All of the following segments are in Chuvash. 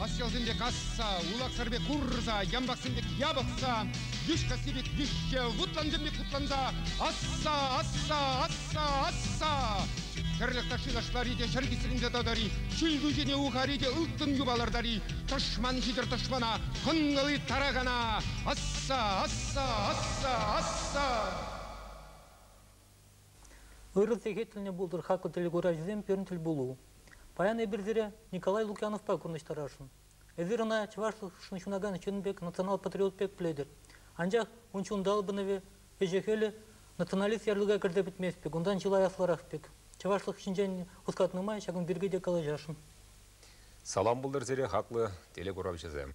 Каҫчалсемпе касса, улахсӑр пек курса, ямпаксем пек япӑхса, йӳҫ касси пек йӳҫҫе, вутлансем пек вутланса, асса, асса, асса, асса. Хӗрлӗх ташши ташлари те ҫӗр кисренсе тӑтӑри, ҫил кӳҫене ухари те ылтӑн юпа лартари, тӑшман ҫитӗр тӑшмана, хӑнкӑли таракана, асса, асса, асса, асса. Ырӑ сехетлӗ пултӑр-ха ку телекуравҫӑсем пирӗн тӗлпулу. Паян эпир сире Николай Лукьяновпа курнӑҫтарасшӑн. Эсир ӑна чӑвашлӑхшӑн ҫунакан ҫын пек, национал-патриот пек пӗлетӗр. Анчах ун ҫунталпӑнӑвӗ, ӗҫӗ-хӗлӗ националист ярлӑка кӗрсе пӗтмест пек, унтан чылай аслӑрах пек. Чӑвашлӑх ҫинчен хускатнӑ май ҫакӑн пирки те калаҫасшӑн. Салам пултӑр сире, хаклӑ телекуравҫӑсем!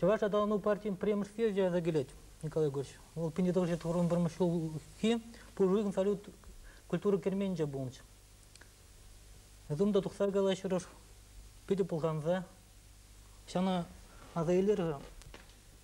Чӑваш аталану партийӗн премӗшке ҫырса килет Николай Егорович. Вӑл пин тӑвӑҫҫи турӑн промыҫлӑхи пушӑйӑн салют культура керменче пулнӑ. Эсум та тухса калаҫрӑш, питӗ пӑлханса. Ҫана аса илер-ха,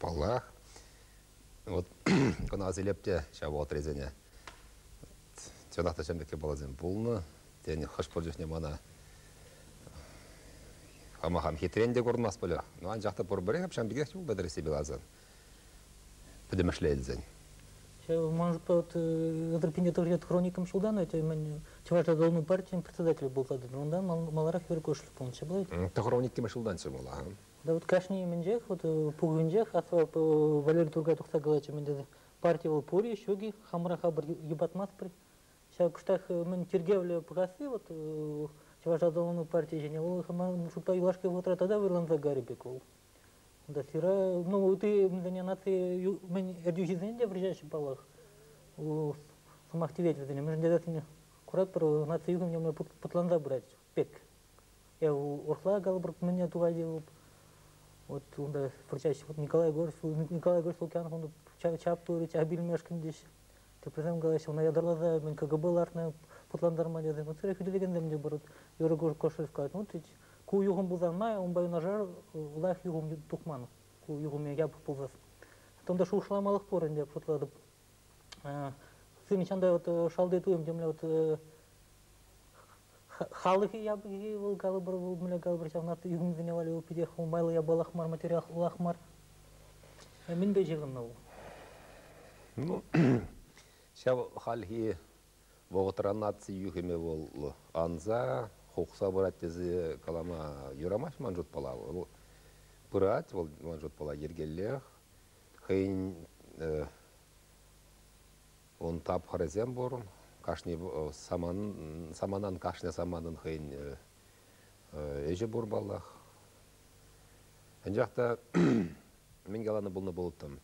Паллах, вот кӑна асилеп те ҫав вӑхӑтрисене. Чӑнах та ҫемлеке баласем пулнӑ. Тен, хӑш-пӗр чухне мана хама хам хитрен те курӑнмас пулӗ. Но анчах та пурпӗрех ҫавӑн пекех юл пӗтрӗ Сибиласӑн. Пӗтӗмӗшле илсен. Ман Петр Пинетурьет хроникам ҫултан эти мӗн Чӑваш Атӑлну партийӗн председателӗ пулса тӑнӑ. Унта маларах вер пулнӑ. Ҫапла? Ты хроникиме ҫултанччӗ мала. Да вот кашни умӗнчех, вот пухӑнчех Валерий Тургай тухса калатчӗ, мӗн тесе, парти вӑл пур-и, ҫук-и, хамӑра хамӑр йӑпатмастпӑр. Ҫав кӑштах мӗн тиркевлӗ пуласси вот Чӑваш аталану партийӗ ҫине вӑл хамӑн шутпа юлашки вӑхӑтра тата вӑйланса карӗ пек вӑл. Да сира, ну ты мӗнле наци мӗн ертӳҫисен те вручаҫҫӗ паллах сӑмах тивет вӗсене. Мӗншӗн тесен куратпӑр, наци юхӑмне путланса пырать. пек. Эв урхла калӑпӑр мӗне тупать вӑл. Вот унта выртаҫҫӗ. Вот Николай Егорович, Николай Егорович Лукьянов унта чаптурӗ, чап илмешкӗн теҫ. Теприсем калаҫҫӗ, ӑна ятарласа мӗн КГБ лартнӑ путлантарма тесен. Вот сире хӳтӗлекенсем те пур. Юрий Кошелев калать, ну тет, ку юхӑм пулсан май унпа юнашар лайӑх юхӑм тухман. Ку юхӑм япӑх пулсас. Тонта шухӑшламалӑх пур ӗнтӗ, шутлатӑп. Хӑй нихҫан та вот шалти туйӑм темле вот халӑхӗ япӑххи вӑл калӑпӑр вӑл мӗнле калӑпӑр ҫавна юхӑмсене валли вӑл питех майлӑ япалах мар материал улах мар мӗнпе ҫыхӑннӑ вӑл ну ҫав хальхи вӑхӑтра наци юхӑмӗ вӑл анса хухса пырать тесе калама юрамасть ман шутпала вӑл пырать вӑл ман шутпала йӗркеллех хӑйӗн ун тапхӑрӗсем пур. Кашни саманан кашни саманан хӑйӗн ӗҫӗ пур паллах. Анчах та мӗн каланӑ пулнӑ пулӑттӑм.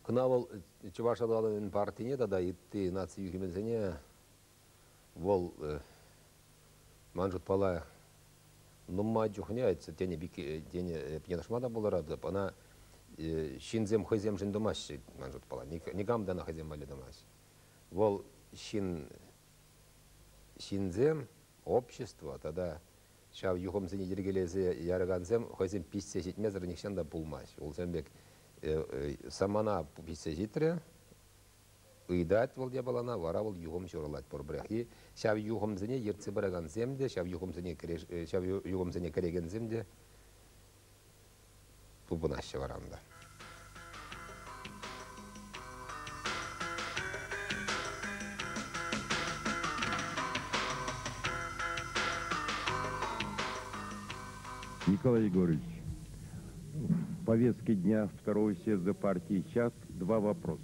Кӑна вӑл Чӑваш аталанӑвӗн партине тата ытти наци юхӗмӗсене вӑл ман шутпала нумай чухне тенӗ пирки тенӗ пӑтӑрмаха та пултаратӑп ӑна ҫынсем хӑйсемшӗн тумаҫҫӗ ман шутпала никам та ӑна хӑйсем валли тумасть вӑл ҫын ҫынсем общество тата ҫав юхӑмсене йӗркелесе яракансем хӑйсем пиҫсе ҫитмесӗр нихҫан та пулмасть улсем пек самана пиҫсе ҫитрӗ ыйтать вӑл япалана, вара вӑл юхӑм ҫурӑлать пурпӗрехи. Ҫав юхӑмсене ертсе пыракансем те, ҫав юхӑмсене, кӗреш, ҫав юхӑмсене кӗрекенсем те тупӑнаҫҫӗ варанта. Николай Егорович, в повестке дня Второго съезда партии «Чат» два вопроса.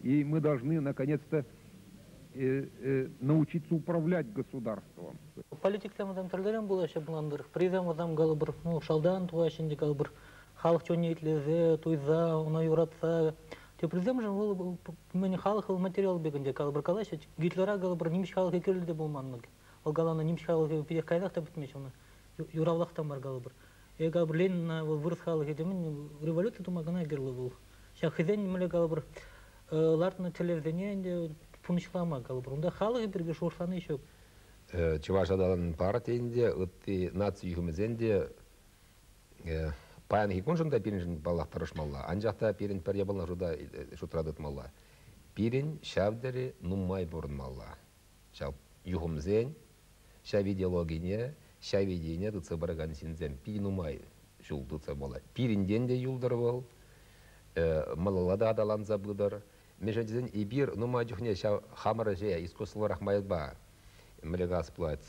И мы должны наконец-то э, э, научиться управлять государством. Политиксем тӗрлӗрен пулаҫҫӗ плантӑр. Призем вӑтам калӑпӑр, ну, шалтан тӑваҫҫӗ ӗнтӗ калӑпӑр. Халӑх чунне итлесе, туйса, ӑна юратса. Теприсемшӗн вӑл мӗн халӑх вӑл материал пек ӗнтӗ калӑпӑр калаҫҫӗ. Гитлера калӑпӑр нимӗҫ халӑхӗ кирлӗ те пулман. Вӑл каланӑ нимӗҫ халӑхӗ питех каярах та пӗтмест, ӑна юравлах та мар калӑпӑр. Эка Берлинна вӑл вырӑс халӑхӗ темен революци тума кӑна кирлӗ вӑл. Ҫаксен мӗнле калӑпӑр лартнӑ тӗллевсене ӗнтӗ пурнӑҫлама калӑпӑр. Унта халӑхӗ пирки шухӑшлани ҫук. Чӑваш аталан партийӗн те, ытти наци ҫыхӑмӗсен те паянхи куншӑн та пирӗншӗн паллах тӑрӑшмалла. Анчах та пирӗн пӗр япала шута, шутра тытмалла. Пирӗн ҫав тери нумай пурӑнмалла. ҫав юхӑмсен ҫав идеологине, ҫав идейине тытса пыракан ҫынсем питӗ нумай ҫул тытса пулать. Пирӗнтен те юлтӑр вӑл, малалла та аталанса пытӑр. Мӗншӗн тесен эпир нумай чухне ҫав хамӑр ӗҫе искусствӑлӑрах майпа мӗле газ плать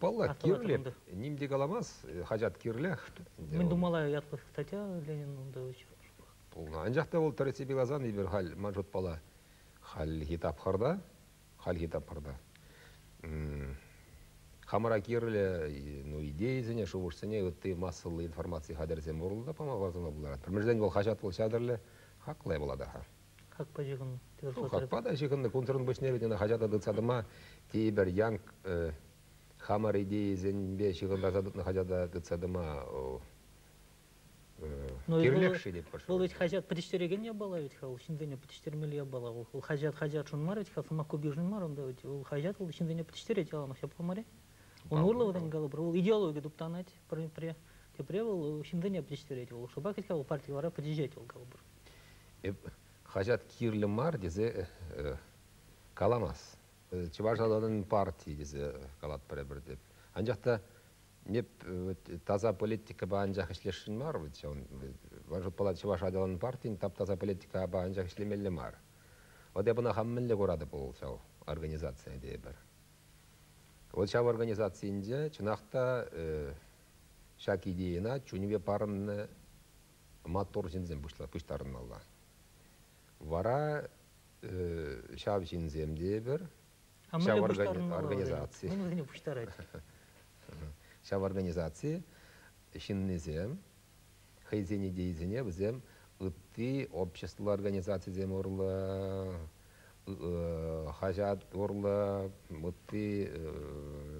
Паллах, кирлӗ. Ним те каламас, хаҫат кирлех. Мӗн тумалла ятлӑ статья Ленин унта Пулнӑ. Анчах та вӑл тӗрӗссипе каласан, эпир халь, ман шутпала, хальхи тапхӑрта, хальхи тапхӑрта хамӑра кирлӗ ну, идейӑсене, шухӑшсене ытти массӑллӑ информаци хатӗрӗсем урлӑ та пама пултаратпӑр. Мӗншӗн вӑл хаҫат вӑл ҫатӑрлӗ, хаклӑ пулатӑр-ха. Какпа ҫыхӑннӑ. Ну, какпа та ҫыхӑннӑ. Кунсӑрӑн пуҫне вӗт ӑна хаҫата тытса тӑма тейӗпӗр. Янк, хамӑр идейӑсемпе ҫыхӑнтарса тытнӑ хаҫата тытса тӑма кирлех-ши тетпӗр. Вӑл ведь хаҫат пӗтӗҫтерекен япала ведь-ха, вӑл ҫынсене пӗтӗҫтермелли япала. Вӑл хаҫат-хаҫатшӑн мар ведь-ха, сӑмахкупишӗн мар унта ведь. Вӑл хаҫат вӑл ҫынсене пӗтӗҫтерет яланах ҫапла мар-и? Ун урлӑ вӗтен калӑпӑр, вӑл идеологи туптанать, тепре, тепре вӑл ҫынсене пӗтӗҫтерет. Вӑл шӑпах ведь-ха вӑл парти вара пӗтӗҫет вӑл калӑпӑр. Эп хаҫат кирлӗ мар тесе каламас. Чӑваш халӑхӗн партии тесе калатпӑр эпир теп. Анчах та эп таса политикӑпа анчах ӗҫлесшӗн мар вӗт ҫавӑн. Ман шутпала чӑваш аталан партин тап-таса политикапа анчах ӗҫлемелле мар. Вӑт эп ӑна хам мӗнле куратӑп вӑл ҫав организацие тейӗпӗр. Вӑл ҫав организацинче чӑнах та ҫак идейӑна чунӗпе парӑннӑ маттур ҫынсем пуҫтарӑнмалла. Вара ҫав ҫынсем тейӗпӗр, ҫав организаци, вӗсене пуҫтарать. Ҫав организаци ҫыннисем хӑйсен идейисене вӗсем ытти общество организацисем урлӑ хаҫат урлӑ ытти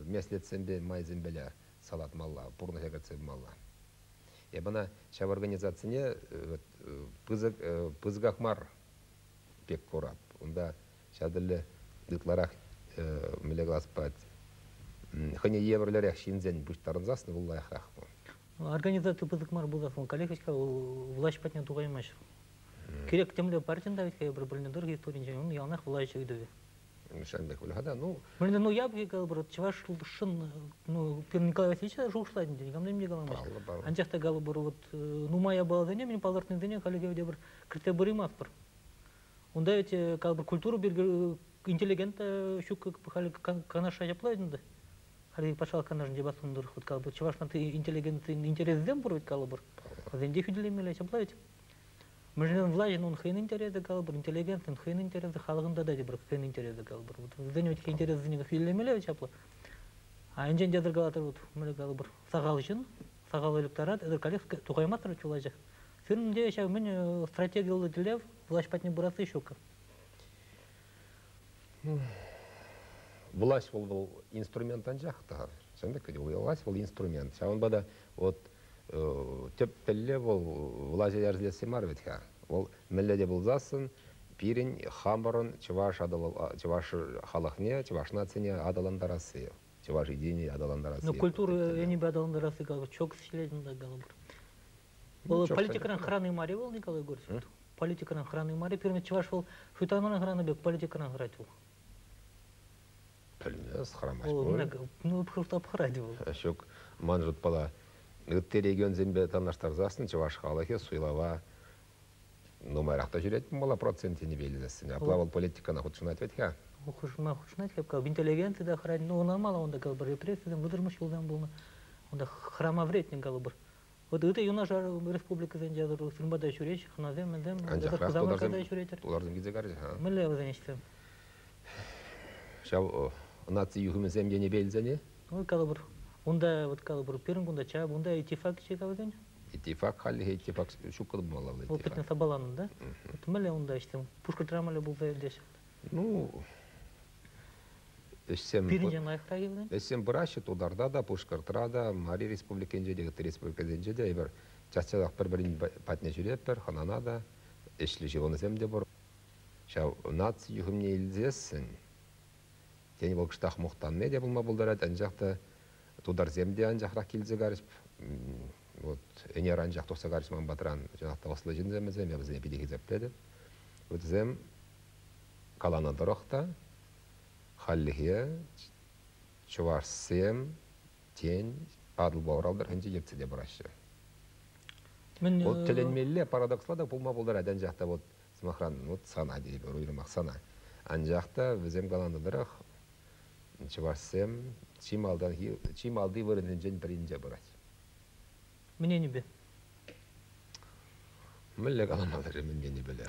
меслетсемпе майсемпеле салатмалла, пурнӑҫа кӗртсе пымалла. Эп ӑна ҫав организацине пысӑк, пысӑках мар пек курап. Унта ҫав тӗлле ытларах мӗнле калас пулать, хӑйне евӗрлӗрех ҫынсен пуҫтарӑнсассӑн вӑл лайӑхрах. Организаци пысӑк мар пулсассӑн вӑл коллег-ҫке влаҫ патне тухаймасть. Кирек темле партин та вӗт-ха эпир пӗлнӗ тӑрӑх историнчен ун яланах влаҫ ыйтӑвӗ. Ҫамрӑк выльӑха та, ну... Мӗнле, ну, я бы говорю, чӑваш шӑн, ну, пирӗн Голосличе шухӑшлатӑн тенӗ, камдем те каламаҫ. Паллӑ, паллӑ. Анчах та, галубӑру, вот, нумая баласене, мен палӑртнисене халӗ те пӗр кӗртсе пыримастпӑр. Унта ведь, как бы, культура интеллигента ҫук халӗ канаша ҫапла ӗнтӗ. Халӗ патшалӑх канашӗнче бассӑндар хут калӑпӑр, чӑвашнан интеллигент интерессем пур ведь калӑпӑр. Вӗсенче хӳтӗлемелле ҫапла ведь. мыжнен влаҫӗн ун хӑйӗн интересӗ калӑпӑр интеллигентӑн хӑйӗн интересӗ халӑхӑн тата тепӗр хӑйӗн интересӗ калӑпӑр вот вӗсен ветӗх интересӗсене как илемелле чаплӑ а инҫен те зеркалатӑр вот мӗне калӑпӑр сахал ҫын сахал ыльӑптарать ытаркалех тухаймастӑр чулачах сирӗн те ҫав мӗн стратегиллӑ тӗллев влаҫ патне пырасси ҫук Власть вӑл вӑл инструмент анчах та. Ҫавӑн пек власть вӑл инструмент. Ҫавӑнпа та вот тӗп тӗллев вӑл влаҫа йӗркелесси мар вӗт-ха. Вӑл мӗнле те пулсассӑн пирӗн хамӑрӑн чӑваш чӑваш халӑхне, чӑваш нацине аталантарасси, чӑваш единине аталантарасси. Ну культура енӗпе аталантарасси как чокс ҫилет унта калӑпӑр. Вӑл политикӑран хӑрани мар-и вӑл, Николай Егорович? Политикӑран хӑрани мар-и? Пирӗн чӑваш вӑл хытанран хӑранӑ пек политикӑран хӑрать вӑл. Пӗлмес, хӑрамасть пуль. Ну, хӑрать вӑл. Ҫук, ман шутпала, ытти регионсемпе танлаштарсассӑн чӑваш халӑхӗ суйлава нумайрах та ҫӳрет пулмалла процент тенипе илесseне. Апла вӑл политикӑна хутшӑнать вӗт-ха? Хушма хутшӑнать хапка. Интеллигенци та хӑрать. Ну, ӑнамал унта калӑпӑр, репрессисем вытӑрмӑш юлтан пулнӑ. Унта хӑрама вӗретнӗ калӑпӑр. Ытти те юнашар республикӑсенче сырма та ҫӳреҫҫӗ хӑнасем, мӗнсем. Анчах тутарсем, тутарсем килсе карчӗ-ха. Мӗнле вӗсен ӗҫсем? Ҫав наци юхӑмӗсем енӗпе илсен-и? Вот калӑпӑр, унта вот калӑпӑр пирӗн кунта чап, унта иттифак ӗҫе калакан? Иттифак хальлӗхе иттифак ҫук кӑтӑмалла. Опытне сапаланӑ, да? Мӗнле унта ӗҫсем? Пушкӑртра мӗнле пулса иртеҫҫӗ? Ну, Ӗҫсем, Пирӗн лайӑхра юлнӑ? ӗҫсем пыраҫҫӗ Тутарта та, Пушкӑртра та, Мари Республикинче те, ытти республикасенче те эпир час-часах пӗр-пӗрин патне ҫӳретпӗр, хӑнана та, ӗҫлӗ ҫыхӑнусем те пур. Ҫав наци юхӑмне илсессӗн, тен, вӑл кӑштах мухтанни те пулма пултарать, анчах та тутарсем те анчахрах килсе карӗҫ. Вот ӗнер анчах тухса карӗҫ ман патран. Чӑнах та ӑслӑ ҫынсем вӗсем, я вӗсене питӗ хисеплетӗп. Вӗсем Каланӑ тӑрӑх та, хальлӗхе чӑвашсем, тен, Атӑлпа Урал тӑрӑхӗнче ертсе те пыраҫҫӗ. Вот тӗлӗнмелле парадоксла та пулма пултарать, анчах та вот, сӑмахран, вот сана тейӗпӗр, уйрӑмах сана. Анчах та вӗсем каланӑ тӑрӑх, чӑвашсем чи малтанхи, чи малти вырӑнсенчен пӗринче пырать. Мӗн енӗпе? Мӗнле калама тӑрӑ мӗн енӗпеле?